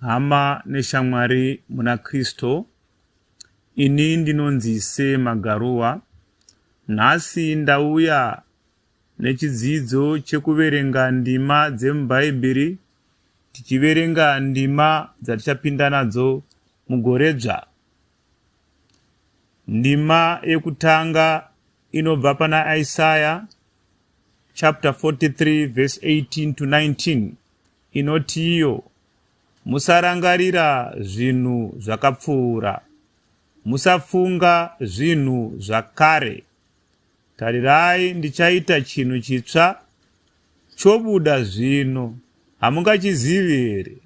Hama neshamwari muna Kristo, ini ndinonzi Se Magaruwa. Nhasi ndauya nechidzidzo chekuverenga ndima dzemuBhaibheri tichiverenga ndima dzatichapinda nadzo mugoredzva. Ndima yekutanga inobva pana Isaya chapter 43 verse 18 to 19. inotiyo, Musarangarira zvinhu zvakapfuura, musafunga zvinhu zvakare. Tarirai, ndichaita chinhu chitsva chobuda zvino, hamungachizivi here?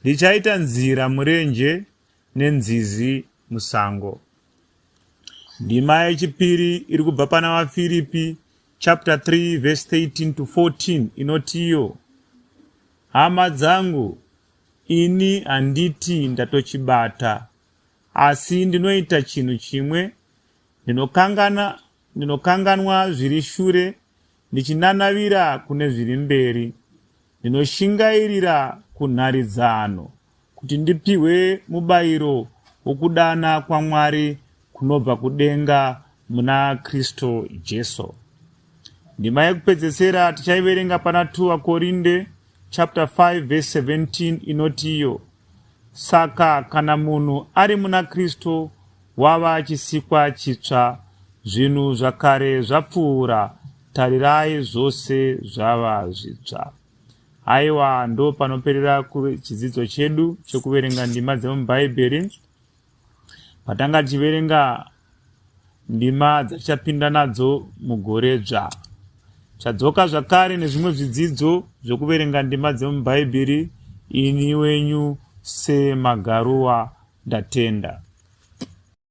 Ndichaita nzira murenje nenzizi musango. Ndima yechipiri iri kubva pana vaFiripi chapter 3 verse 13 to 14 inotiyo hama dzangu ini handiti ndatochibata asi ndinoita chinhu chimwe ndinokangana ndinokanganwa zviri shure ndichinanavira kune zviri mberi ndinoshingairira kunharidzano kuti ndipihwe mubayiro wokudana kwaMwari kunobva kudenga muna Kristu Jesu. Ndima yekupedzesera tichaiverenga pana 2 Vakorinde chapter 5 verse 17 inoti iyo saka kana munhu ari muna kristu wava chisikwa chitsva zvinhu zvakare zvapfuura tarirai zvose zvava zvitsva Haiwa, ndo panoperera chidzidzo chedu chekuverenga ndima dzemubhaibheri. Patanga tichiverenga ndima dzatichapinda nadzo mugore dzva chadzoka zvakare nezvimwe zvidzidzo zvokuverenga ndima dzemubhaibheri ini wenyu semagaruwa ndatenda